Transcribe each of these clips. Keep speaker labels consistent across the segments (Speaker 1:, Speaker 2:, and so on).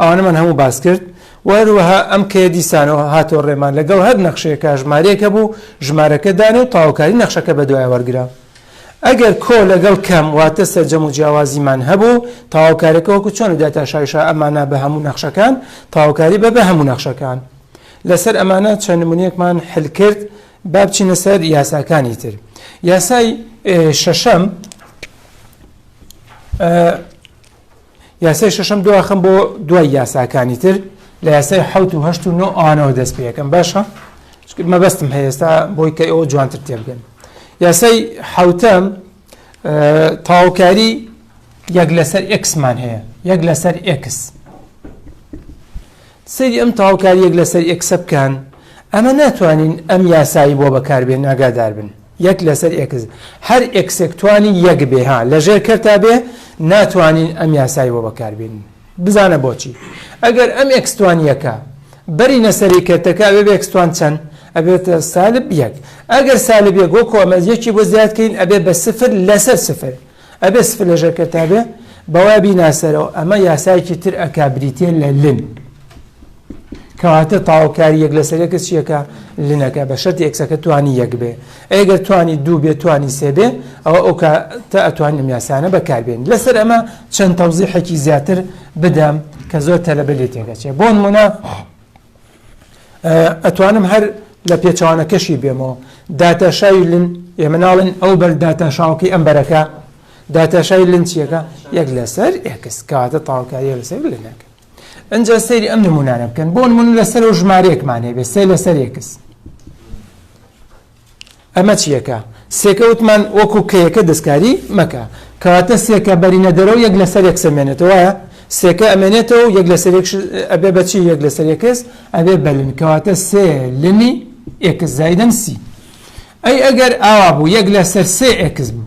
Speaker 1: ئەوانەمان هەموو باس کرد و هەروەها ئەم کەیە دیسانەوە هاتەوە ڕێمان لەگەڵ هەر نەخشەیەکە ژمارەیەک هەبوو ژمارەکە دانێ و تەواوکاری نەخشەکە بەدوای وەرگرا ئەگەر کۆ لەگەڵ کەم واتە سەرجەم و جیاوازیمان هەبوو تەواوکارەکە وەکو چۆن لە داتا شایشا ئەمانە بە هەموو نەخشەکان تەواوکاری بە بە هەموو نەخشەکان لەسەر ئەمانە چەند نمونەیەکمان حل کرد با بچینە سەر یاساکانی تر یاسای شەشەم یاسای شەشەم دواخم بۆ دوای یاساکانی تر لە یاسای حوت و هەشت و نۆ ئەوانەوە دەست پێەکەم باشە مەبەستم هەیەستا بۆی کە ئەوە جوانتر تێبگەن یاسای حوتەم تاوکاری یەک لەسەر ئەکسمان هەیە یەک لەسەر ئەکس سری ئەم تاوکاری یەک لەسەر ئەکسە بکەن ئەمە ناتوانین ئەم یاسایی بۆ بەکاربێن ئاگادار بن یەک لەسەر ئێکس هەر ئێکسێک توانی یەک بێ ها لەژێر کەرتا بێ ناتوانین ئەم یاسای بۆ بەکاربێنین بزانە بۆچی ئەگەر ئەم ئێکستوانیەکە بەری نەسەری کەرتەکە ئەوێ بێکستوان چەند ئەبێتە سالب یەک ئەگەر سالب یەک وەکۆ ئەمە یەکی بۆ زیادکەین ئەبێ بە سفر لەسەر سفر ئەبێ سفلەژەکە تا بێ بەوا بیناسەرەوە ئەمە یاسایەکی تر ئەکا بریتە لە لن کەواتە تاوکاری یەک لەسەرەکە چیەکە لنەکە بە شەر ئەکسەکە توانی یەک بێ ئەگەر توانی دوو بێ توانی سێبێ ئەوە ئەو تا ئەتوانی ئەم یاسانە بەکاربێن لەسەر ئەمە چەند تەوزیحێکی زیاتر بدەم کە زۆر تەلەبە لێ تێگەچێ بۆن منە ئەتوانم هەر لە پێچوانەکەشی بێمەوە داتاشاوی لن ئێمە ناڵێن ئەو بەر داتاشاوکەی ئەم بەرەکە داتاشای لن چیەکە یەک لەسەر ئێکس کاتە تاوکاری لەسەر لەنەکە ئەجا سەیری ئەم نمونانە بکەن بۆ من لەسەر و ژمارەیەکمانێ بێ سێ لەسەر یەکس ئەمە چیەکە سێکە وتمان وەکو کەیەکە دەستکاری مەکە کەواتە سێکە بەرینە دەرەوە یەک لەسەر یەک سەمێنێتەوە سێکە ئەمێنێتەوە یەک لەسەر ئەبێ بەچی یەک لەسەر یەکس ئەبێ بەلن کەواتە سێ لنی ئێکس زایدن سی ئەی ئەگەر ئاوا بوو یەک لەسەر سێ ئێکس بوو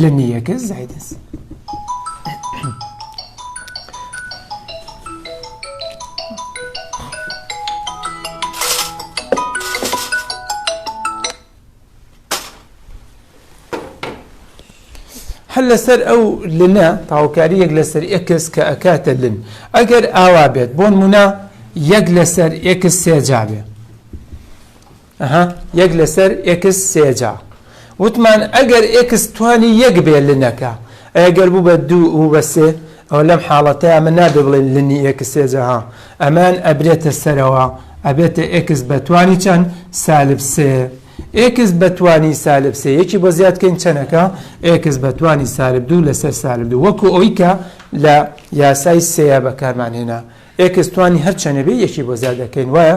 Speaker 1: لە نیەکە زایدەس هەر لەسەر ئەو لنە تاوکاریەک لەسەر ئەکس کە ئەکاتە لن ئەگەر ئاوا بێت بۆن منە یەک لەسەر ئەکس سێجا بێ ئەها یەک لەسەر ئێکس سێ جا وتمان ئەگەر ئێکس توانی یەک بێ لنەکە ئەیە گەر بوو بە دوو و بە سێ ئەوە لەم حاڵەتەیە من نابێ بڵێن لنی ئێکس سێ جا ها ئەمان ئەبرێتە سەرەوە ئەبێتە ئێکس بە توانی چەند سالب سێ ئێکس بە توانی سالب سێ یەکی بۆ زیاد کەین چەنەکە ئێکس بە توانی سالب دوو لەسەر سالب دوو وەکو ئەوی کە لە یاسای سەیە بەکارمان هێنا ئێکس توانی هەر چەنە بێ یەکی بۆ زیاد دەکەین وایە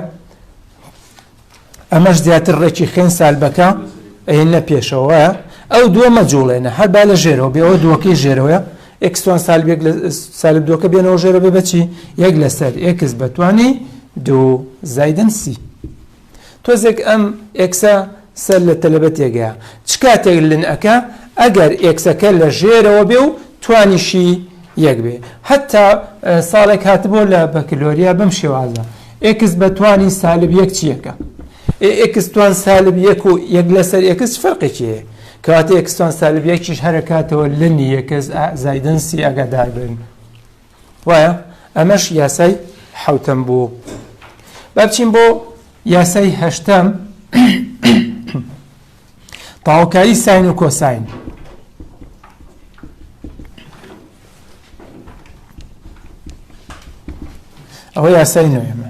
Speaker 1: ئەمەش زیاتر ڕێکی خوێن سالبەکە ئەینە پێشەوە ئەو دووە مەجوڵێنە هەر با لە ژێرەوە بێەوە دووەکەی ژێرەوەە ئەکسوان سالبێک لە سالب دووەکە بێنەوە ژێرە بێ بەچی یەک لەسەر ئێکس بەتوانی دوو زایدن سی تۆزێک ئەم ئێکسە سەر لە تەلەبە تێگەیا چ کاتێک لن ئەکا ئەگەر ئێکسەکە لە ژێرەوە بێ و توانیشی یەک بێ هەتا ساڵێک هاتبۆ لە بەکلۆریا بەم شێوازە ئێکس بە توانی سالب یەک چیەکە ئێ ئێکس توان سالب یەک و یەک لەسەر ئێکس فەرقێکی هەیە کەواتە ئێکستان سالب یەکیش هەرەکاتەوە لنی یەکەس زایدنسی ئەگەدار بن وایە ئەمەش یاسای حەوتەم بوو با بچین بۆ یاسای هەشتەم تاوکاری ساین و کۆساین ئەوە یاسای نوێمە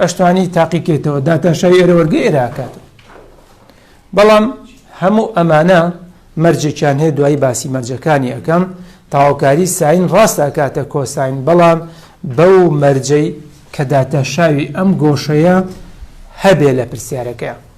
Speaker 1: ئەشتوانی تاقی کەیتەوە داتاشای ئێرە وەرگە ئێرە ئاکاتەوە بەڵام هەموو ئەمانە مەرجێکیان هەیە دوایی باسی مەرجەکانی ئەەکەم تاوکاری ساین ڕاست ئاکاتە کۆساین بەڵام بەو مەرجەی کە داتاشاوی ئەم گۆشەیە هەبێ لە پرسیارەکە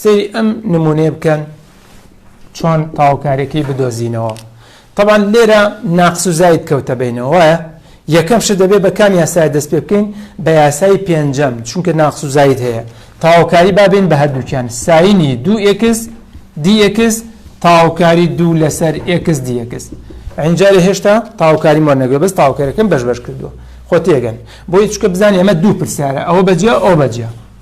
Speaker 1: سەیری ئەم نمونەیە بکەن چۆن تەواوکاریەکەی بدۆزینەوە تەبان لێرە ناقس و زاید کەوتە بینەوە وایە یەکەم شت دەبێت بە کام یاسای دەست پێ بکەین بە یاسای پێنجەم چونکە ناقس و زاید هەیە تاوکاری بابین بە هەردووکیان ساینی دوو ئکس دیکس تاوکاری دوو لەسەر ئکس دیکس ئەنجارێ هێشتا تاوکاری مۆ نەگوێ بەس تاوکارەکەم بەش بەش کردووە خۆ تێگەن بۆی چکە بزانانی ئەمە دوو پرسیارە ئەوە بەجیا ئەو بەجیا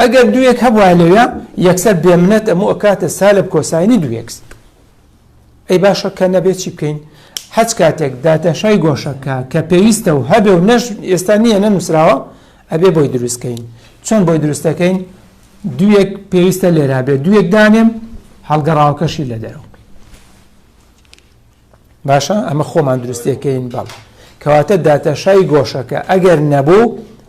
Speaker 1: ئەگەر دووێک هەبوایە لەوێ یەکسەر بێ منەت ئەمو ئەکاتە سالب کۆساینی دووێکس ئەی باشە کە نەبێت چی بکەین حەج کاتێک داتەشای گۆشەکە کە پێویستە و هەبێ و نەش ئێستا نییە نەنووسراوە ئەبێ بۆی دروستکەین چۆن بۆی دروستەکەین دووێک پێویستە لێرا بێ دووێک دانێم هەڵگەڕاوکەشی لە دەرەوە باشە ئەمە خۆمان دروستەکەین بەڵ کەواتە داتەشای گۆشەکە ئەگەر نەبوو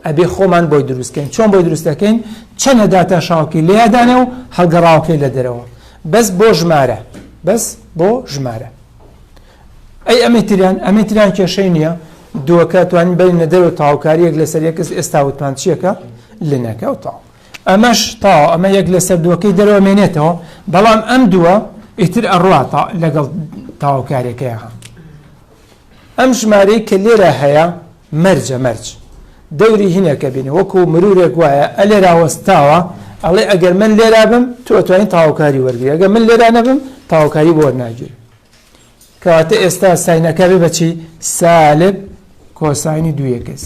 Speaker 1: ئەبێ خۆمان بۆی دروستکەین چۆن بۆی دروستەکەین چەنە داتا شاوکی لێدانە و هەڵگەڕاوکەی لە دەرەوە بەس بۆ ژمارە بەس بۆ ژمارە ئەی ئەمەتریان ئەمەتریان کێشەی نییە دووەکە توانین بین نەدەر و تاوکاریەک لەسەر یەکەس ئێستا وتمان چیەکە لەنەکە و تاو ئەمەش تاوە ئەمە یەک لەسەر دووەکەی دەرەوە مێنێتەوە بەڵام ئەم دووە ئیتر ئەڕوا تا لەگەڵ تاوکارێکەیەها ئەم ژمارەی کە لێرە هەیە مەرجە مەرج دەوری هینەکە بینی وەکو مرورێک وایە ئە لێرا وەستاوە ئەڵێ ئەگەر من لێرا بم تۆ توانین تاوکاری وەرگری ئەگەر من لێرا نەبم تاوکاری بۆ ناگیر کەواتە ئێستا ساینەکە بێ بەچی سالب کۆسانی دوویەکەس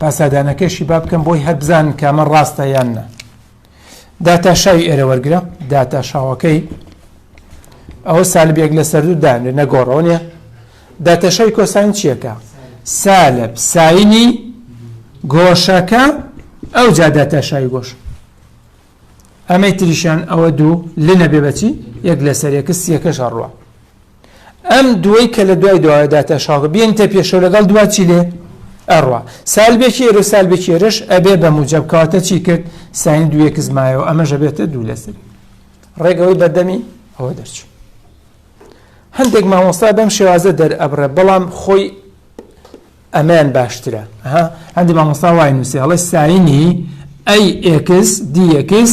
Speaker 1: پاسادانەکەشی با بکەم بۆی هەر بزانن کە ئەمە ڕاستە یان نا داتاشاوی ئێرە وەرگرە داتاشاوەکەی ئەوە سالب یەک لە سەردوو دانێ نەگۆڕەوە نیە داتاشاوی کۆساین چیەکە سالب ساینی گۆشەکە ئەو جا داتاشاوی گۆش ئەمەی تریشان ئەوە دوو لە نەبێ بەچی یەک لەسەر یەکە سیەکەش هەڕوە ئەم دووەی کە لە دوای دواوە دا تەشاکە بێنتە پێشەوە لەگەڵ دوا چی لێ ئەڕوا سالبێکی ئێرە و سالبێکی ئێرەش ئەبێ بە موجەب کەواتە چی کرد ساین دوو یەکس مایەوە ئەمە ژەبێتە دوو لەسەر ڕێگەوەی بەردەمی ئەوە دەرچوو هەندێک مامۆستا بەم شێوازە دەرئەبڕێ بەڵام خۆی ئەمەیان باشترە ها هەندی مامۆستا وای نووسی هەڵێ ساینی ئەی ئێکس دی ئێکس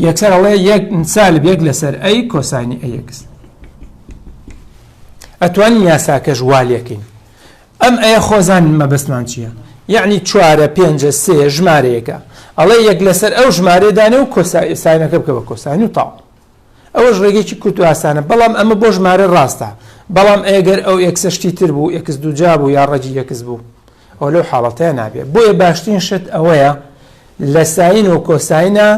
Speaker 1: یەکسەر هەڵێ یەک سالب یەک لەسەر ئەی کۆسانی ئەیەکس ئەتوانی یاساکەش والەکەین ئەم ئەیە خۆزان مەبەستمان چییە یعنی چوارە پێنجە سێ ژمارەیەەکە ئەڵێ یەک لەسەر ئەو ژمارەدانێ و کۆسایسانەکە بکە بە کۆسانی و تاو ئەوەش ڕێگەیەکی کورت و ئاسانە بەڵام ئەمە بۆ ژمارە ڕاستە بەڵام ئەگەر ئەو ئێکسە شتی تر بوو ئێکس دووجا بوو یا ڕەجی یەکس بوو ئەو لەو حاڵەتەیە نابێت بۆیە باشترین شت ئەوەیە لە ساین و کۆساینا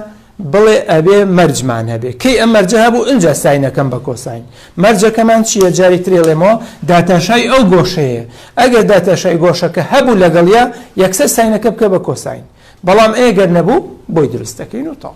Speaker 1: بڵێ ئەبێ مەرجمان هەبێ کەی ئەم مەرجە هەبوو ئەجا ساینەکەم بە کۆساین مەرجەکەمان چییە جاری ترێڵێمەوە داتاشای ئەو گۆشەیە ئەگەر داتاشای گۆشەکە هەبوو لەگەڵە یەکسەر ساینەکە بکە بە کۆساین بەڵام ئەگەر نەبوو بۆی دروستەکەین و تاڵ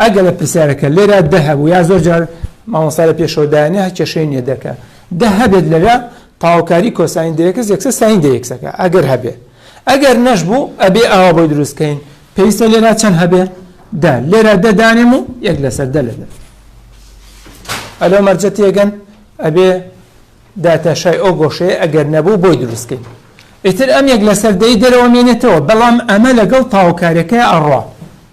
Speaker 1: ئەگەرە پرسیارەکە لێرا دە هەبوو یا زۆر جار مامۆستا لە پێشەوە دایانێ هە کێشەی نییە دەکە دە هەبێت لەرا تاوکاری کۆساین دەیەکس یەکسە ساین دەیەکسەکە ئەگەر هەبێ ئەگەر نەش بوو ئەبێ ئاوا بۆی دروستکەین پێویستە لێرا چەند هەبێ دا لێرا دەدانێم و یەک لەسەر دە لەدە ئەلۆ مەرجە تێگەن ئەبێ داتاشای ئەو گۆشەیە ئەگەر نەبوو بۆی دروستکەین ئیتر ئەم یەک لەسەر دەی دەرەوە مێنێتەوە بەڵام ئەمە لەگەڵ تاوکارەکە ئەڕە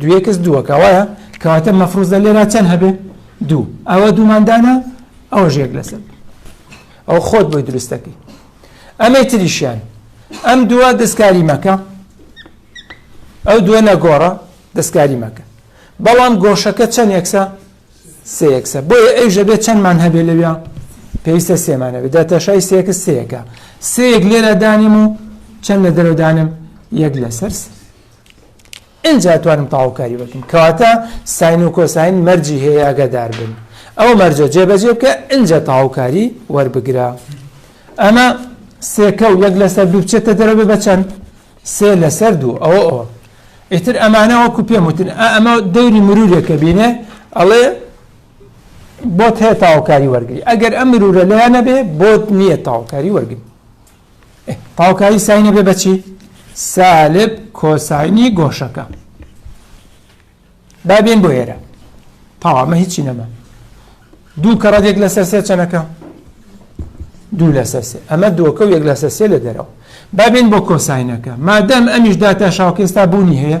Speaker 1: دوو یەکس دووەکە وایە کەواتە مەفروزە لێرا چەند هەبێ دوو ئەوە دووماندانە ئەو ژێک لەسەر ئەو خۆت بۆی دروستەکەی ئەمەی تریشیان ئەم دووە دەستکاری مەکە ئەو دووە نەگۆڕە دەستکاری مەکە بەڵام گۆشەکە چەند یەکسە سێ یەکسە بۆیە ئەی ژەبێ چەندمان هەبێ لەوێ پێویستە سێمانەوێ دەتەشای سێکە سێەکە سێک لێرە دانیم و چەند لە دەرەدانم یەک لەسەر سێ ئینجا ئەتوانم تەواوکاری بکەم کەواتە ساین و کۆساین مەرجی هەیە ئاگادار بن ئەو مەرجە جێبەجێ بکە ئینجا تەواوکاری وەربگرە ئەمە سێکە و یەک لەسەر دوو بچێتە دەرەوە بە چەند سێ لەسەر دوو ئەوە ئەوە ئیتر ئەمانە وەکو پێم وتن ئەمە دەوری مرورێکە بینێ ئەڵێ بۆت هەیە تاوکاری وەرگری ئەگەر ئەم مرورە لەیانە بێ بۆت نییە تاوکاری وەرگری تاوکایی ساین ئەبێ بە چی سالب کۆساینی گۆشەکە با بێن بۆ ئێرە تاوامە هیچی نەما دوو کە ڕەدێک لەسەر سێ چەنەکە دوو لەسەر سێ ئەمە دۆکە و یەک لەسەر سێ لە دەرەوە بابێن بۆ کۆساینەکە مادەم ئەمیش داتا شاوکێستا بوونی هەیە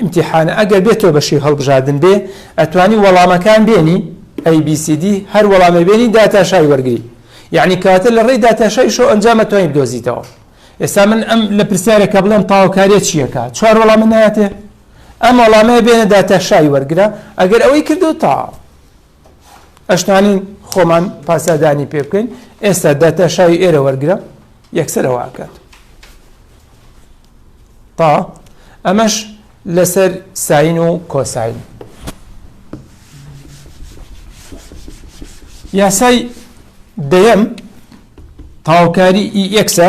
Speaker 1: ئیمتیحانە ئەگەر بێتۆ بەشی هەڵبژاردن بێ ئەتوانی وەڵامەکان بێنی ئەی بی سی دی هەر وەڵامێ بێنی داتاشای وەرگری یعنی کەواتە لە ڕێی داتاشای شۆ ئەنجام ئەتوانی بدۆزیتەوە ئێستا من ئەم لە پرسیارەکە بڵێم تاوکاریە چیەکە چوار وەڵام من ناتێ ئەم وەڵامەیە بێنە داتاشای وەرگرە ئەگەر ئەوەی کردو تاو ئەشتوانین خۆمان پاسادانی پێ بکەین ئێستا داتا شاوی ئێرە وەرگرە یەکسەرەوە ئاکات تا ئەمەش لەسەر ساین و کۆساین یاسای دەیەم تاوکاری ئی ئەکسە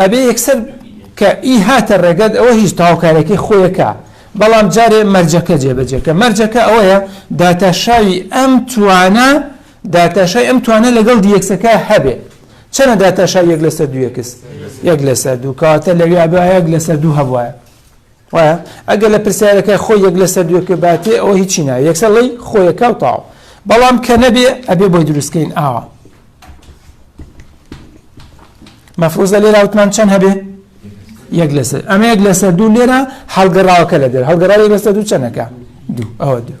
Speaker 1: ئەبێ یەکسەر کە ی هاتە ڕێگەت ئەوە هیچ تاوکارەکەی خۆیەکە بەڵام جارێ مەرجەکە جێبەجێکە مەرجەکە ئەوەیە داتاشاوی ئەم توانە داتاشای ئەم توانە لەگەڵ دیەکسەکە هەبێ چەنە داتاشا یەک لەسەر دووەکس یەک لەسەر دوو کاتە لەویا بە یەک لەسەر دوو هەبواە وایە ئەگەر لە پرسیارەکە خۆی یەک لەسەر دوێ پێ باتێ ئەوە هیچی نایە یەکسەر ڵێی خۆیەکاو تاو بەڵام کە نەبێ ئەبێ بۆی دروستکەین ئاوا مەفروزە لێرا وتمان چەند هەبێ یەک لەسەر ئەمە یەک لەسەر دوو لێرە هەڵگەڕاوەکە لە دەر هەڵگەڕاوی لەسەر دوو چەندەکە دوو ئەوە دوو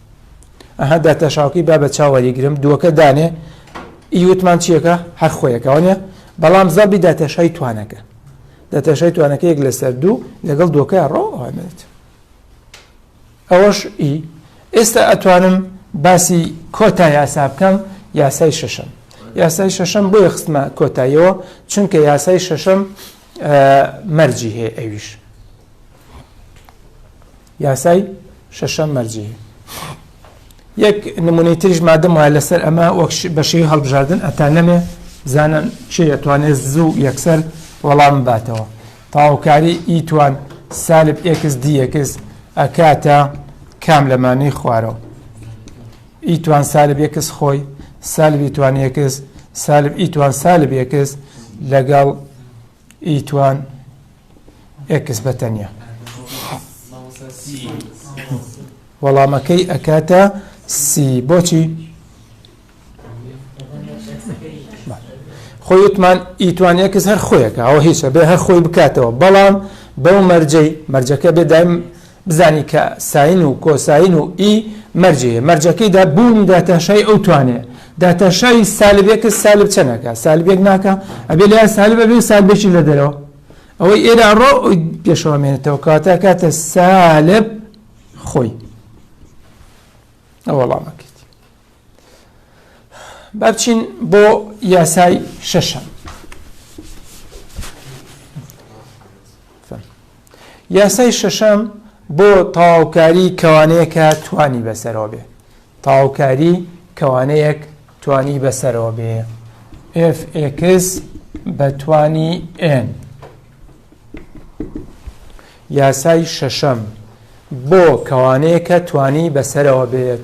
Speaker 1: ئەها داتاشاوکەی با بە چاو وەریگرم دووەکە دانێ ئی وتمان چیەکە هەر خۆیەکە وانە بەڵام زەبی داتاشای توانەکە داتاشای توانەکە یەک لەسەر دوو لەگەڵ دووەکە ڕۆێت ئەوەش ئی ئێستا ئەتوانم باسی کۆتا یاسا بکەم یاسای شەشەم یاسای شەشەم بۆیە خستمە کۆتاییەوە چونکە یاسای شەشەم مەرجی هەیە ئەویش یاسای شەشەم مەرجیی. یەک نمونەی تریش مادەم وایە لەسەر ئەمە وەک بە شێوی هەڵبژاردن ئەتا نەمێ بزانن چێ ئەتوانێت زوو یەکسەر وەڵام باتەوە تاوکاری ئیتوان سالب ئێکس دیەکس ئەکاتە کام لەمانەی خوارەوە ئیتوان سالب یەکس خۆی سالبی توانیەکس سالب ئیتوان سالب یەکس لەگەڵ ئیتوان ئێکس بە تەنیا وەڵامەکەی ئەکاتە سی بۆچی خۆی وتمان ئیتوان ئێکس هەر خۆیەکە ئەوە هیچە بێ هەر خۆی بکاتەوە بەڵام بەو مەرجەی مەرجەکە بێ دایم بزانی کە ساین و کۆساین و ئی مەرجێ یە مەرجەکەی دا بوونی داتاشای ئەو توانێ داتاشای سالب ئێکس سالب چەن ئەکا سالب یەک ناکا ئەبێ لە یا سالب ئەبێ و سالبێکی لە دەرەوە ئەوەی ئێرە ئەڕۆ ئەوی پێشەوە مێنێتەوە کەواتە کاتە سالب خۆی ئەوەڵامەکە بابچین بۆ یاسای شەشەم یاسای شەشەم بۆ تەواوکاری کەوانەیەکە توانی بەسەرەوە بێ تەواوکاری کەوانەیەک توانی بەسەرەوە بێ FX بە توانی N یاسای شەشەم بۆ کەوانەیەکە توانی بەسەرەوە بێت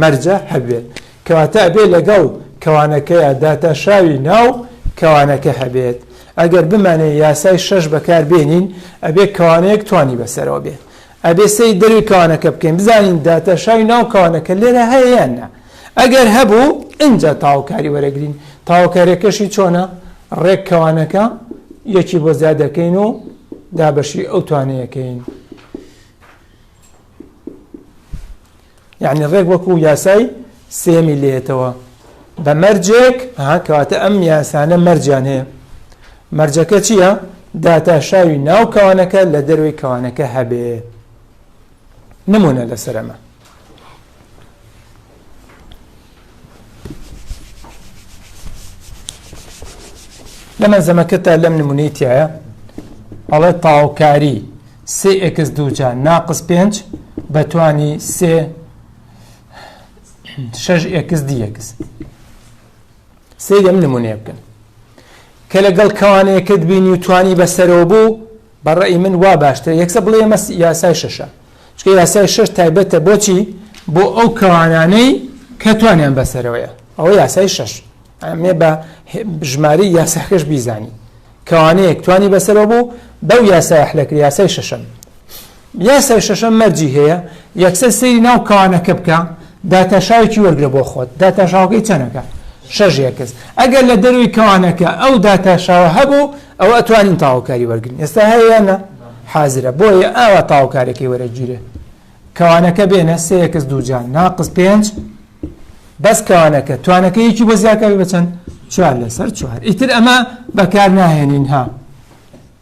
Speaker 1: مەرجە هەبێت کەواتە ئەبێ لەگەڵ کەوانەکەیە داتاشاوی ناو کەوانەکە هەبێت ئەگەر بمانێ یاسای شەش بەکار بێنین ئەبێ کەوانەیەک توانی بەسەرەوە بێت ئەبێ سەی دەروی کەوانەکە بکەین بزانین داتاشاوی ناو کەوانەکە لێرە هەیە یان نا ئەگەر هەبوو ئینجا تاوکاری وەرەگرین تاوکارەکەشی چۆنە ڕێک کەوانەکە یەکی بۆ زیادەکەین و دابەشی ئەو توانەیەکەین یەعنی ڕێک وەکو یاسای سێیەمی لێیەتەوە بە مەرجێک ها کەواتە ئەم یاسانە مەرجیان هەیە مەرجەکە چییە؟ داتاشاوی ناو کەوانەکە لە دەروی کەوانەکە هەبێ نمونە لەسەرەمە لە مەلزەمەکەتا لەم نمونەی تایە ئەڵێ تاوکاری سێ ئکس دووجا ناقس پێنج بەتوانی سێ شەش ئکس دیەکس سێ لەم نمونەیە بکەن کە لەگەڵ کەوانەیەکەت بینی و توانی بەسەرەوە بوو بە ڕەئی من وا باشترە یەکسەر بڵێ ئەمە یاسای شەشە چکە یاسای شەش تایبەتە بۆچی بۆ ئەو کەوانانەی کە توانیان بەسەرەوەیە ئەوە یاسای شەش ئەمێ بە ژماری یاساکەش بیزانی کەوانەیەک توانی بەسەرەوە بوو بەو یاسای حلەکری یاسای شەشەم یاسای شەشەم مەرجی هەیە، یەکسەر سەیری ناو کانەکە بکە، داتاشاوێکی وەرگرە بۆ خۆت، داتاشاوەکەی چەنەکە؟ شەش یەکس، ئەگەر لە دەرووی کانەکە ئەو داتاشاوە هەبوو ئەوە ئەتوانین تاوەکاری وەرگرین، ئێستا هەیە یان نا؟ حازرە، بۆیە ئاوا تاوەکارەکەی وەرەگیرێ، کانەکە بێنە سێ یەکس دووجا ناقس پێنج بەس کانەکە توانەکە یەکی بۆ زیاکاری بە چەند؟ چوار لەسەر چوار، ئیتر ئەمە بەکار ناهێنین ها،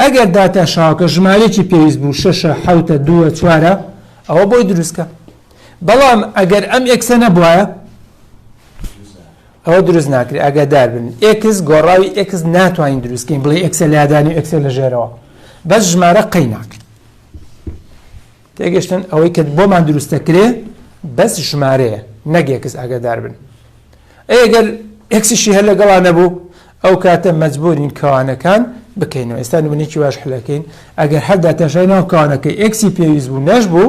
Speaker 1: ئەگەر داتا شاوەکە ژمارەیەکی پێویست بوو شەشە، حەوتە، دووە، چوارە ئەوە بۆی دروستکە بەڵام ئەگەر ئەم ئێکسە نەبوایە ئەوە دروست ناکرێت ئاگادار بن ئێکس گۆڕاوی ئێکس ناتوانین دروستکەین بڵێ ئێکسە لادانی ئێکسە لە ژێرەوە بەس ژمارە قەی ناکرێت تێگەشتن ئەوەی کە بۆمان دروست دەکرێ بەس ژمارەیە نەک ئێکس ئاگادار بن ئەی ئەگەر ئێکسیشی هەر لەگەڵا نەبوو ئەو کاتە مەجبورین کەوانەکان بکەینەوە ئێستا نمونێکی واش حلەکەین ئەگەر هەر داتاشای ناو کەوانەکەی ئێکسی پێویست بوو نەش بوو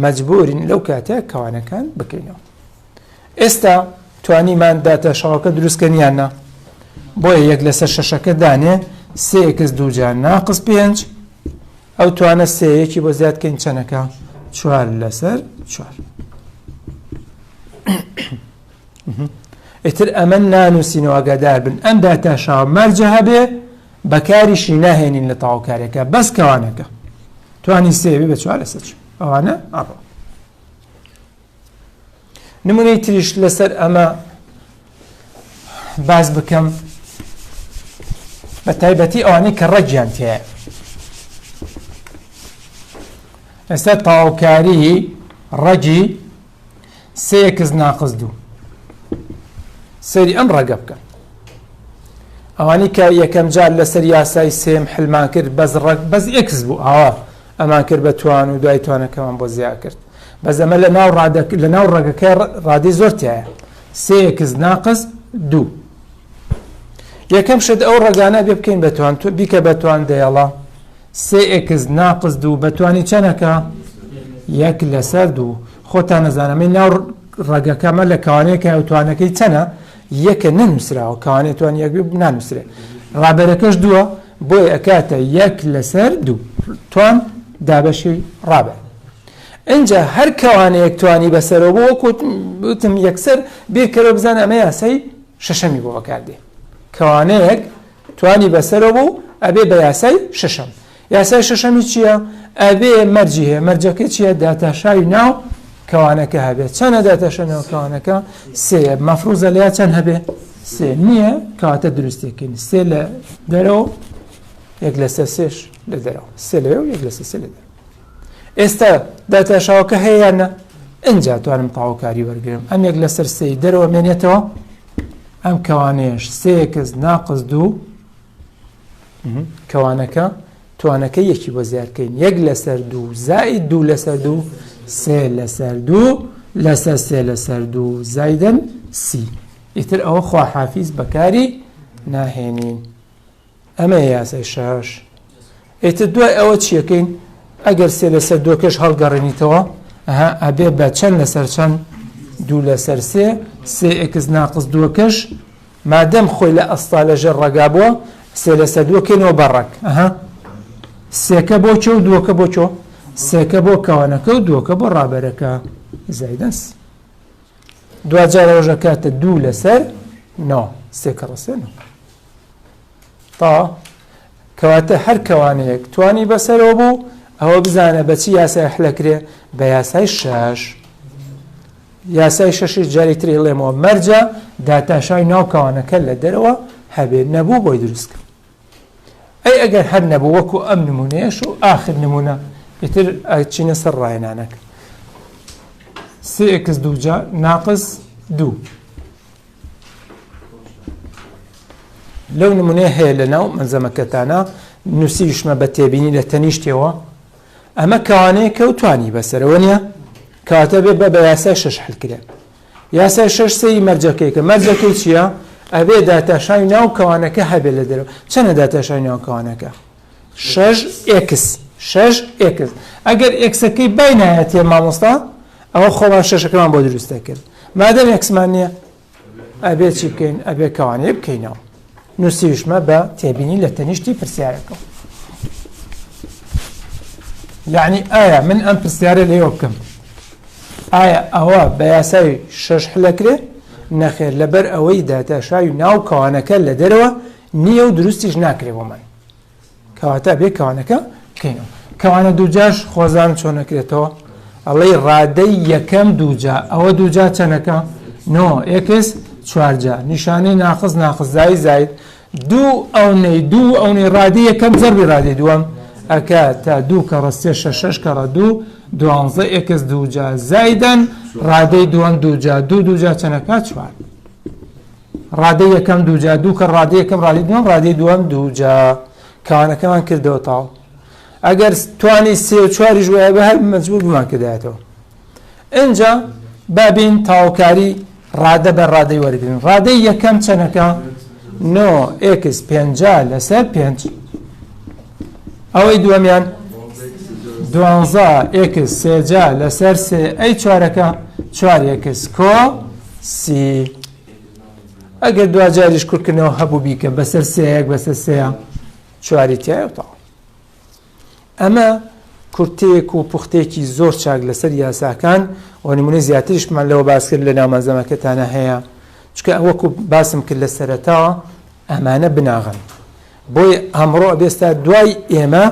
Speaker 1: مەجبورین لەو کاتە کەوانەکان بکەینەوە ئێستا توانیمان داتە شەڕەکە دروستکەنیان نا بۆیە یەک لەسەر شەشەکە دانێ سێکس دووجار ناقس پێنج ئەو توانە سێ یەکی بۆ زیاد کەین چەنەکە چوار لەسەر چوار ئیتر ئەمە نانووسینەوە گەدار بن ئەم داتاشاوە مەرجە هەبێ بەکاریشی ناهێنین لە تاوکارەکە بەس کەوانەکە توانی سێوی بە چوار لەسەر ئەوانە ئەڕۆ نمونەی تریش لەسەر ئەمە باس بکەم بە تایبەتی ئەوانەی کە ڕەگیان تێ لەسەر تاوکاری ڕەگی سێکس ناقز دوو سەری ئەم ڕەگە بکەن ئەوانی کە یەکەم جار لەسەر یاسای سێم حلمان کرد بەز ڕەگ بەز ئکس بوو ئاوا ئەمان کرد بە توان و دوای توانەکەمان بۆ زیا کرد بەس ئەمە لە ناو ڕادەک لە ناو ڕەگەکە ڕادی زۆر تایە سێکس ناقز دوو یەکەم شت ئەو ڕگانە بێ بکەین بە توان تو بیکە بە توان دەیەڵە سێکس ناقز دوو بە توانی چەنەکە یەک لەسەر دوو خۆتان نەزانەمە ناو ڕەگەکەمە لە کاوانەیەکە ئەو توانەکەی چەنە یەکە نەنووسراوە کاوانێ توان یەک بنانووسێ ڕابەرەکەش دووە بۆی ئەکاتە یەک لەسەر دوو توان دابەشی ڕابە ئینجا هەر کەوانەیەک توانی بەسەرەوە بۆ وەکوت وتم یەکسەر بیرکەرەوە بزان ئەمە یاسای شەشەمی بۆ بەکاردێ کەوانەیەک توانی بەسەرەوە بوو ئەبێ بە یاسای شەشەم یاسای شەشەمی چییە ئەبێ مەرجی هەیە مەرجەکە چییە داتاشاوی ناو کەوانەکە هەبێت چەنە داتاشە ناوکەوانەکە سێ مەفروزە لە چەند هەبێ سێ نییە کاتە دروستێکین سێ لە دەرەوە یەک لەسە سێش لە دەرەوە سێ لەوێ و یەک لەسە سێ لە دەرەوە ئێستا داتاشاوەکە هەیەیانە ئەجا توانم تاوکاری وەرگێم ئەم یەک لەسەر سێ دەرەوە مێنێتەوە ئەم کەوانێش سێکس ناقز دوو کەوانەکە توانەکە یەکی بۆ زیارکەین یەک لەسەر دوو زای دوو لەسەر دوو سێ لەسەر دوو لەسەر سێ لەسەر دوو زایدن سی ئیتر ئەوە خواحافیز بەکاری ناهێنین ئەمە یاسای شاش ئیتر دوای ئەوە چیەکەین ئەگەر سێ لەسەر دۆکەش هەڵگەڕێنیتەوە ئەها ئەبێ بە چەند لەسەر چەند دوو لەسەر سێ سێ ئکس ناقز دووەکەش مادەم خۆی لە ئەستا لەژێر ڕگا بووە سێ لەسەر دووەکەینەوە بەڕک ئەها سێکە بۆ چۆ دووەکە بۆ چۆ سێکە بۆ کەوانەکە و دووەکە بۆ ڕابەرەکە زایدەس دواجارەوەش ئەکاتە دوو لەسەر نۆ سێ کەڕە سێ نۆ تا کەواتە هەر کەوانەیەک توانی بەسەرەوە بوو ئەوە بزانە بەچی یاسای حلەکرێ بە یاسای شەش یاسای شەشی جاری تری ڵێمەوە مەرجە داتاشای ناوکەوانەکە لە دەرەوە هەبێت نەبوو بۆی دروستکە ئەی ئەگەر هەر نەبوو وەکو ئەم نمونەیەش و ئاخر نمونە ئیتر ئەچینە سەر ڕاهێنانەکە سێکس دووجا ناقز دوو لەو نمونەیە هەیە لە ناو مەزەمەکەتانە نووسیشمە بە تێبینی لە تەنیشتەوە ئەمە کەوانەیە کەوتانی بەسەرەوە نیە کاتە بێ بە بە یاسای شش حلکرێ یاسای شەش سەری مەرجەکەی کە مەرجەکەی چییە؟ ئەبێ داتاشاوی ناو کەوانەکە هەبێت لە دەرەوە چەنە داتاشاوی ناو کەوانەکە شەش ئێکس شەش ئێکس ئەگەر ئێکسەکەی بای نایەتێ مامۆستا ئەوە خۆمان شەشەکەمان بۆ دروستە کرد مادەم ئێکسمان نییە ئەبێ چی بکەین ئەبێ کەوانەیە بکەینەوە نوسیوشمە بە تێبینی لە تەنیشتی پرسیارەکەم یعنی ئایا من ئەم پرسیارە لێوە بکەم ئایا ئەوە بە یاسای شەش حلەکرێ نەخێر لەبەر ئەوەی داتاشاوی ناو کەوانەکە لە دەرەوە نییە و دروستیش ناکرێ بۆمان کەواتە بێ کەوانەکە بکەینەوە کەوانە دووجاش خۆزان چۆن نەکرێتەوە ئەڵێ ڕادەی یەکەم دووجا ئەوە دووجا چەنەکە نۆ ئێکس چوارجا نیشانەی ناخز ناخزای زایت دوو ئەو نەی دوو ئەو نەی ڕادی یەکەم زەربی ڕادی دووەم ئەکە تا دوو کە ڕستێ شەش کەڕە دوو دوانزە ئێکس دووجا زایدەن ڕادەی دووەم دووجا دوو دووجا چەنەکە چوار ڕادەی یەکەم دووجا دوو کە ڕادەی یەکەم ڕادەی دووەم ڕادەی دووەم دووجا کانەکەمان کردەوە تاو ئەگەر توانی سێ و چواریش وایە بە هەر مەجبور بمان کردایەتەوە ئەجا بابین تاوکاری ڕادە بە ڕادەی وەرگن ڕادەی یەکەم چەنەکە نۆ ئکس پێنج لەسەر پێنج ئەوەی دووەمیان دوانزە ئێکس سێجا لەسەر سێ ئەی چوارەکە چوار ئێکس کۆ سی ئەگەر دواجاریش کورتکردنەوە هەبوو بیکە بەسەر سەیەک بەسەر سەیە چواری تایوتاڵ ئەمە کورتەیەک و پوختێکی زۆر چاک لەسەر یاساکان و نمونە زیاتریشمان لەوە باسکرد لە ناومەزەمەکەتانە هەیە چکە ئەوەکو باسم کرد لە سەرەتاوە ئەمانە بناغەن بۆی ئەمڕۆ ئەبێستا دوای ئێمە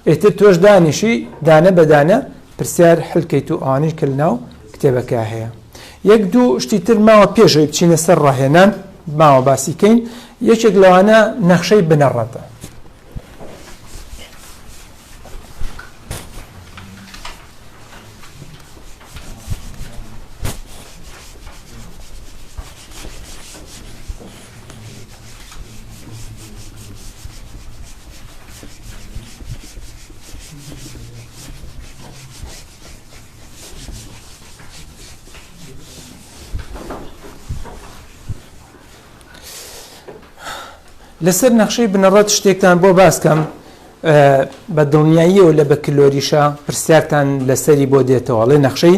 Speaker 1: ئێتر تۆش دانیشی دانە بەدانە پرسیار حلکەیت و ئەوانش کە لەناو کتێبەکە هەیە یەک دوو شتی تر ماوە پێشەوەی بچینە سەر ڕاهێنان ماوە باسیکەین یەکێک لەوانە نەخشەی بنەڕەتە لەسەر نەخشەی بنەڕەت شتێکتان بۆ باسکەم بە دڵنیاییەوە لە بە کلۆریشە پرسیارتان لەسەری بۆ دێتەوە ڵێ نەخشەی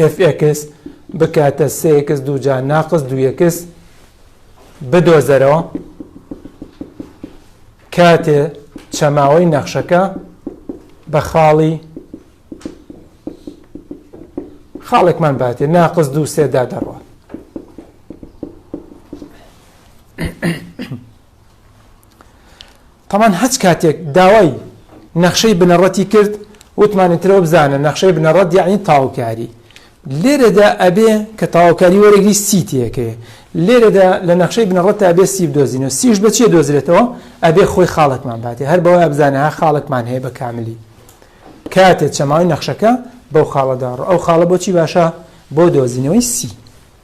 Speaker 1: ئێف ئێکس بکاتە سێ ئێکس دووجا ناقس دوو ئێکس بدۆزەرەوە کاتێ چەماوەی نەخشەکە بە خاڵی خاڵێکمان باتێ ناقس دوو سێدا دەڕوە تەمان هەچ کاتێک داوای نەخشەی بنەڕەتی کرد وتمانی ترەوە بزانە نەخشەی بنەڕەت یعنی تاوکاری لێرەدا ئەبێ کە تاوکاری وەرەگری سی تێەکەی لێرەدا لە نەخشەی بنەڕەت تا بێ سی دۆزینە سیش بە چێ دۆزرێتەوە ئەبێ خۆی خاڵکمان باتێ هەر بەوە بزانە ها خاڵکمان هەیە بە کاملی کاتێ چەماوی نەخشەکە بەو خاڵەداڕ ئەو خاڵە بۆچی باشە بۆ دۆزینەوەی سی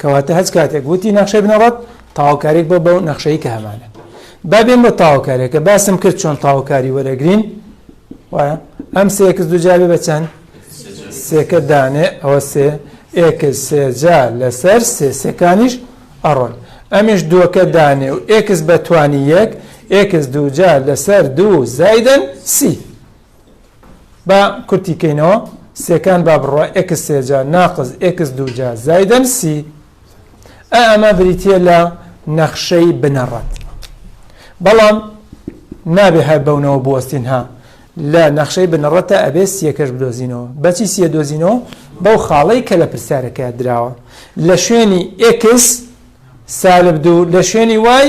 Speaker 1: کەواتە هەچ کاتێک وتی نەخشەی بنەڕەت تاوکاریک بۆ بەو نەخشەی کە هەمانە با بێن بە تاوکارێکە باسم کرد چۆن تاوکاری وەرەگرین وایە ئەم سێکس دوجابێ بە چەند سێکە دانێ ئەوە سێ ئێکس سێجا لەسەر سێ سێکانیش ئەڕۆن ئەمیش دووەکە دانێ و ئێکس بەتوانی یەک ئێکس دووجا لەسەر دوو زایدن سی با کورتی کەینەوە سێکان با بڕوا ئێکس سێجا ناقز ئێکس دووجا زایدەن سی ئەمە بریتە لە نەخشەی بنەڕەت بەڵام نابێ هەر بەونەوە بوەستین ها لە نەخشەی بنەڕەتە ئەبێ سیەکەش بدۆزینەوە بەچی سیە دۆزینەوە بەو خاڵەی کە لە پرسیارەکە دراوە لە شوێنی ئکس سالب دوو لە شوێنی وای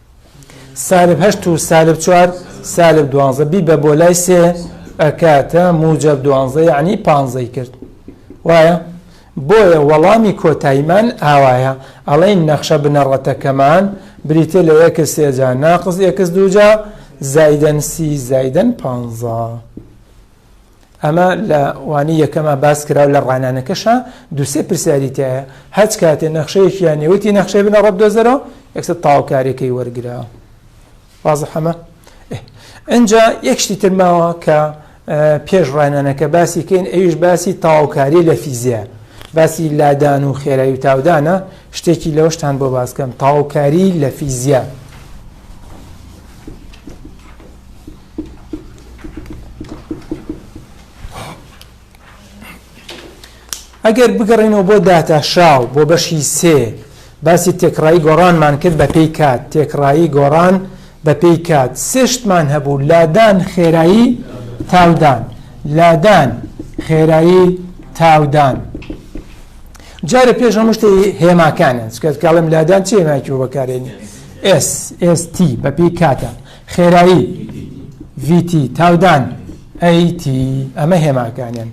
Speaker 1: سالب هەشت و سالب چوار سالب دوانزە بیبە بۆ لای سێ ئەکاتە موجب دوانزە یعنی پانزەی کرد وایە بۆیە وەڵامی کۆتاییمان ئاوایە ئەڵێن نەخشە بنەڕەتەکەمان بریتە لە یەکس سێجا ناقز یەکس دوجا زایدەن سی زایدەن پانزە. ئەمە لە وانەی یەکەما باس کرا و لە ڕانانەکەشا دوو سێ پرسیاری تایە هەچ کاتێ نەخشەیەکی یان نێوەتی نەخشەی بنە ڕەب دۆزەرەوە یەکسەر تاوکارەکەی وەرگرا وازە حەمە ئەجا یەکشتی ترماوە کە پێش ڕانانەکە باسی کەین ئەویش باسی تاوکاری لە فیزیا باسی لادان و خێرایی و تاودانە شتێکی لەوەشتان بۆ باسکەم تاوکاری لە فیزیا ئەگەر بگەڕێنەوە بۆ داتاشاو بۆ بەشی سێ باسی تێکڕایی گۆڕانمان کرد بە پێی کات تێکڕایی گۆڕان بە پێی کات سێشتمان هەبوو لادان خێرایی تاودان لادان خێرایی تاودان جارە پێش هەمشتی هێماکانن سکەتکڵم لادان چێماکی بەکارێنی ئێس ئێستی بە پێی کاتە خێرایی، VT، تاودان، AT، ئەمە هێماکانیان.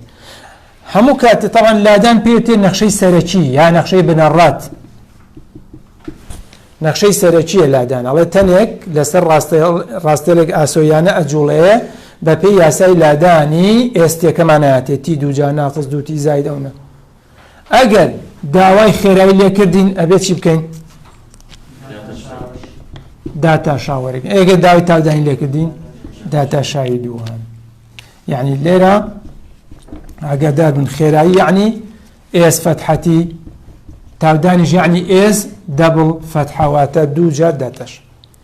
Speaker 1: هەموو کات تاوان لادان پێوتێ نەخشەی سەرەکی یا نەخشەی بنەڕات نەخشەی سەرەکیە لادان ئەڵێ تەنێک لەسەر ڕاستێلێک ئاسۆیانە ئەجوڵەیە بەپێی یاسای لادانی ئێستێکەمانایەتێتی دووجا ناقز دووتی زایدەونە ئەگەر داوای خێرایی لێکردین ئەبێ چی بکەین داتا شاوەرێک ئێگە داوای تاودانی لێکردین داتا شاوی دووان یعنی لێرە ئەگەردار بن خێرایی یعنی ئێس فەتحەتی تاودانیش یعنی ئێس دەبڵ فەتحەواتە دوو جار داتەش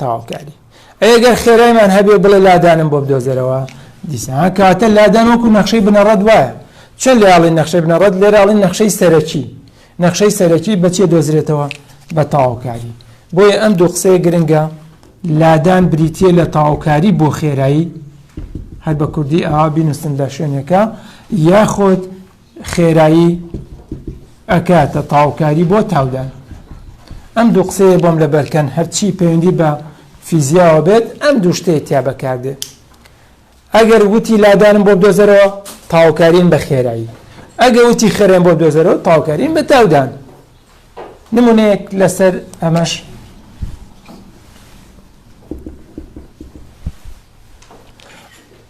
Speaker 1: تەواوکاری. ئەی ئەگەر خێرایمان هەبێ بڵێ لادانم بۆ بدۆزەرەوە دیسان کاتە لادان وەکو نەخشەی بنەڕەت وایە چەند لە یاڵی نەخشەی بنەڕەت لێراڵی نەخشەی سەرەکی نەخشەی سەرەکی بەچێ دۆزرێتەوە بە تەواوکاری بۆیە ئەم دوو قسەیە گرنگە لادان بریتە لە تەواوکاری بۆ خێرایی هەر بە کوردی ئاوا بینوسن لە شوێنەکە یاخۆت خێرایی ئەکاتە تاوکاری بۆ تاودان ئەم دوو قسەیە بۆم لە بەرکەن هەرچی پەیوەندی بە فیزیاوە بێت ئەم دوو شتەیە تیا بەکاردێت ئەگەر وتی لادانم بۆ بدۆزەرەوە تاوکارین بە خێرایی ئەگە وتی خێرێن بۆ بدۆزەرەوە تاوکارین بە تاودان نمونەیەک لەسەر ئەمەش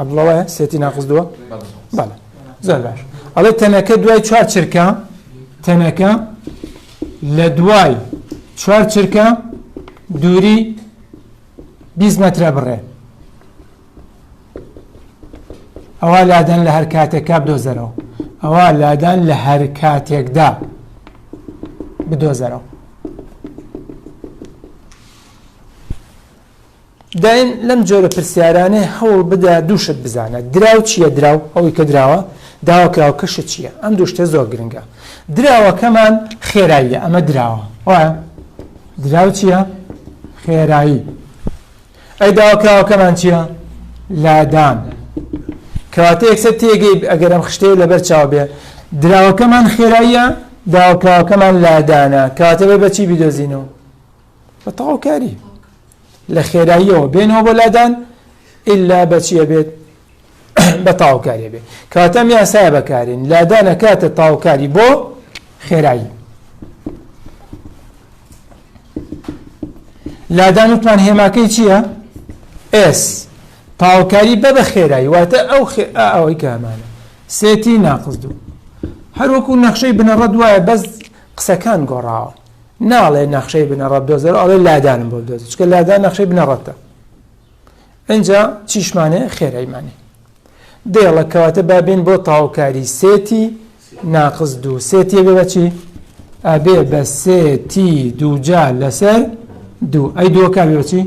Speaker 1: عبدڵە وایە سێتی ناقزدووە بەڵێ زۆر باش ئەڵێ تەنەکە دوای چوار چرکە تەنەکە لە دوای چوار چرکە دووری 20 مترە بڕێ ئەوە لادەن لە هەر کاتێکا بدۆزەرەوە ئەوە لادان لە هەر کاتێکدا بدۆزەرەوە دایم لەم جۆرە پرسیارانێ هەوڵ بدە دوو شت بزانە، دراو چییە، دراو، ئەوەی کە دراوە، داواکراوکە شت چییە، ئەم دوو شتە زۆر گرنگە. دراوەکەمان خێراییە، ئەمە دراوە، وایە؟ دراو چییە؟ خێرایی. ئەی داواکراوەکەمان چییە؟ لادان. کەواتە یەکسەر تێگەی ئەگەر ئەم خشتەیە لەبەر چاو بێ دراوەکەمان خێراییە، داواکراوەکەمان لادانە، کەواتە بە چی بیدۆزینەوە؟ بە تەواوکاری لە خێراییەوە بێنەوە بۆ لادان ئللا بەچیە بێت بە تاوکاریە بێت کاتەم یاسای بەکارین لادانە کاتە تاوکاری بۆ خێرایی لادان وتمان هێماکەی چییە؟ ئێس تاوکاری بە بە خێرایی واتە ئەو ئەوەی کامانە سێتی ناقز دوو هەروەکو نەخشەی بنەڕەت وایە بەس قسەکان گۆڕاوە ناڵێ نەخشەی بنەڕەت دۆزەرەوە ئەڵێ لادانم بۆ دۆزی چکە لادان نەخشەی بنەڕەتە ئەجا چیشمانێ خێرایمانێ دێڵە کەواتە بابین بۆ تاوکاری سێتی ناقز دوو سێتی بێ بەچی ئەبێ بە سێتی دووجا لەسەر دوو ئەی دووەکە بێچی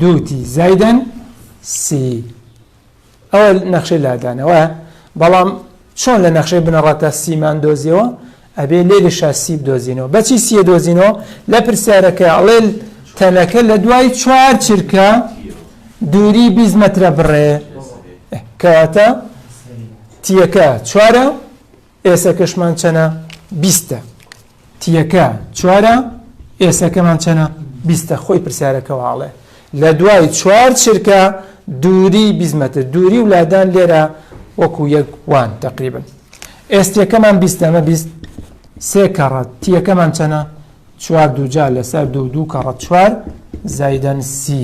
Speaker 1: دووتی زایدەن سی ئەوە نەخشەی لادانەوە بەڵام چۆن لە نەخشەی بنەڕەتە سیمان دۆزیەوە ئەبێ لێ لە شاسی بدۆزینەوە بەچی سیە دۆزینەوە لە پرسیارەکە ئەڵێ تەنەکە لە دوای چوار چرکە دووری بیست مەترە بڕێ کەواتە تیەکە چوارە ئێسەکەشمان چەنە بیستە. تیەکە چوارە ئێسەکەمان چەنە بیستە خۆی پرسیارەکەەوە ئاڵێ لە دوای چوار چرکە دووری بیزمەتر دووری و لادان لێرە وەکو یەک وان تقریبن ئێستیەکەمان بیستەمە بیست سێ کەڕەت تیەکەمان چەنە چوار دووجا لەسەر دوو دوو کەڕەت چوار زایدەن سی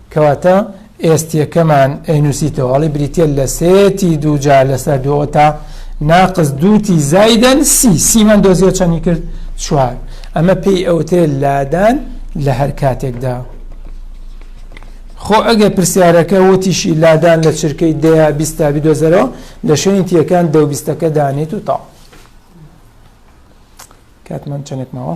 Speaker 1: کەواتە ئێستیەکەمان ئەینوسیتەوە ئەڵێ بریتیە لە سێتی دووجار لەسەر دووەوە تا ناقز دووتی زایدەن سی سیمان دۆزیە چەنی کرد چوار ئەمە پێی ئەوتێ لادان لە هەر کاتێکدا خۆ ئەگە پرسیارەکە وتیشی لادان لە چرکەی دەیە بیستا بدۆزەرەوە لە شوێنی تیەکان دە بیستەکە دانێت و تا کاتمان چەندێک ماوە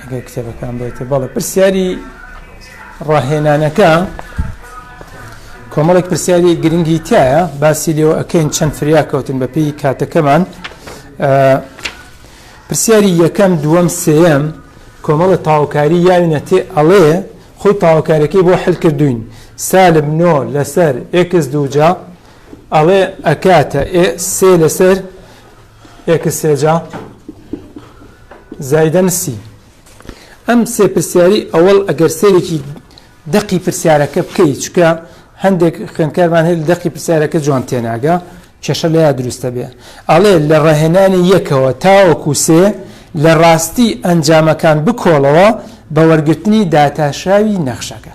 Speaker 1: ئەگەر کتێبەکان بێتە بەڵێ پرسیاری ڕاهێنانەکە کۆمەڵێک پرسیاری گرنگی تایە باسی لێەوە ئەکەین چەند فریا کەوتن بە پێی کاتەکەمان پرسیاری یەکەم دووەم سێم کۆمەڵە تاوکاری یاوینە تێ ئەڵێ خۆی تاوکارەکەی بۆ حلکردوین سالب نۆ لەسەر ئێکس دووجا ئەڵێ ئەکاتە سێ لەسەر ئێکس سێجا زایدەن سی ئەم سێ پرسیاری ئەوەڵ ئەگەر سێرێکی دەقی پرسیارەکە بکەیت چکە هەندێک خوێنکارمان هەیە دەقی پرسیارەکە جوان تێناگە کێشە لە یا دروستە بێ ئەڵێ لە ڕاهێنانی یەکەوە تاوەکو سێ لە ڕاستی ئەنجامەکان بکۆڵەوە بە وەرگرتنی داتاشاوی نەخشەکە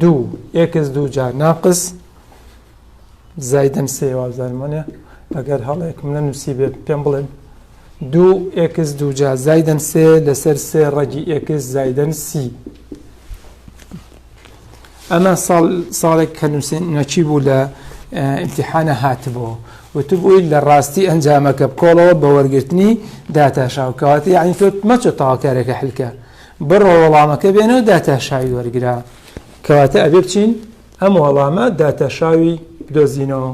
Speaker 1: دوو ئێکس دوو جا ناقس زایدەن سێ وابزانم وەنێ ئەگەر هەڵەیەکم لە نووسی بێت پێم بڵێن دوو ئێکس دوو جا زایدەن سێ لەسەر سێ ڕەگی ئێکس زایدەن سی ئەمە ساڵ ساڵێک کە نووسین نەچی بوو لە امتحانە هاتبوو وتبووی لە ڕاستی ئەنجامەکە بکۆڵەوە بە وەرگرتنی داتاشاو کەواتی یعنی تۆ مەچە تاواکارێکە حلکە بڕۆ وەڵامەکە بێنە و داتاشاوی وەرگرە کەواتە ئەبێ بچین ئەم وەڵامە داتاشاوی دۆزینەوە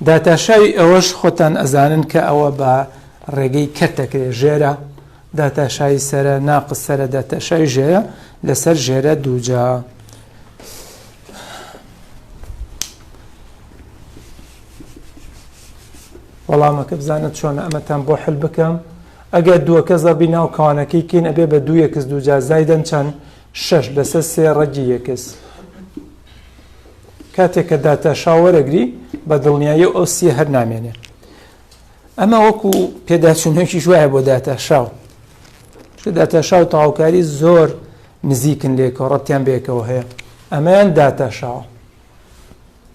Speaker 1: داتاشاوی ئەوەش خۆتان ئەزانن کە ئەوە بە ڕێگەی کەت دەکرێت ژێرە داتاشایی سرە ناقص سرە داتاشایی ژێرە لەسەر ژێرە دووجا. وەڵامەکە بزانە چۆنە ئەمەتان بۆ حل بکەم ئەگەر دووەکە زەربی ناو کەوانەکەی کەین ئەبێ بە دوو یەکس دووجا زایدەن چەند شەش لەسەر سێ ڕەگی یەکس کاتێک کە داتاشا وەرەگری بە دڵنیایی ئەو سیە هەر نامێنێ ئەمە وەکو پێداچوونەکی شوایە بۆ داتاشاو داتاشاو تاوکاری زۆر نزیکن لێکەوە ڕەتیان بێکەوە هەیە ئەمەیان داتاشاوە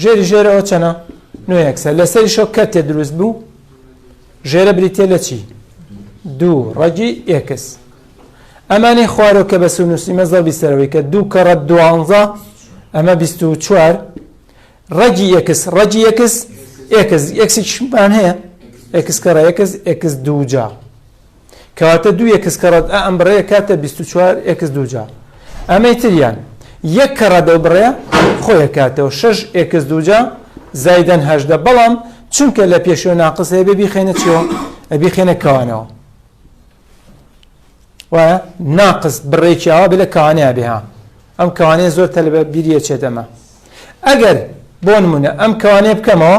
Speaker 1: ژێری ژێرەوە چەنە نوێکسە لەسەری شۆ کەتێ دروست بوو ژێرە بریتە لە چی دوو ڕەگی ئێکس ئەمانی خوارۆ کە بە سونوسی مەزە بیسەرەوەی کە دوو کەڕە دوانزە ئەمە بیست و چوار ڕەگی یەکس ڕەگی یەکس ئێکس ئێکسیشمان هەیە ئێکس کەڕە یەکس ئێکس دووجار کەواتە دوو ئێکس کە ڕەد ئە ئەم بڕەیە کاتە بیست و چوار ئێکس دووجا ئەمەی تریان یەک کە ڕەدە و بڕەیە خۆیە کاتەوە شەش ئێکس دووجا زایدەن هەژدە بەڵام چونکە لە پێشەوە ناقص هەیە بێ بیخێنە چیەوە ئەبی خێنە کەوانەوە وایە ناقص بڕێکی ئاوا بێ لە کەوانەیە بێها ئەم کەوانەیە زۆر تەلبە بیریە چێت ئەمە ئەگەر بۆ نمونە ئەم کەوانەیە بکەمەوە